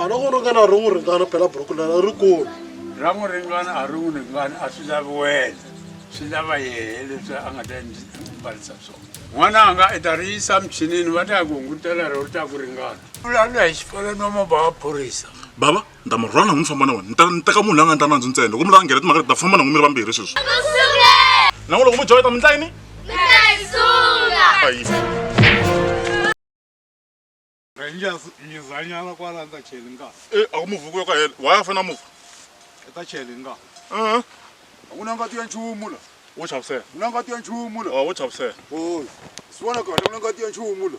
a ri ku ringana a ri n'wi ringana phela buruku leri ri kulu ra n'wi ringana a ri n'wi ringana a swi lavi wena swi lava yehe leswi a nga ta mbarisa swona n'wana a nga i ta ri yisa michinini va ta ya ku hungutela ri ri ta ku ringana vulavula hi xifolonoma bava phorisa baba ni ta mi rhwala na n'wina ni famba na wena ni ta ni teka munhu la nga ni ta nandzu ntsena loko mi lava nghena timhaka leti ta famba na n'wina mi ri vambirhi sweswi na n'wina loko mi joyita mi ndla yini Rangers mizanyana kwala ni ta cheli nga e a ku muvuku yo ka hela why a fana muvu i ta cheli nga a ku na ngati ya nchumu la wo chavisela ku na ngati ya nchumu la wo chavisela o swi vona kahle ku na ngati ya nchumu la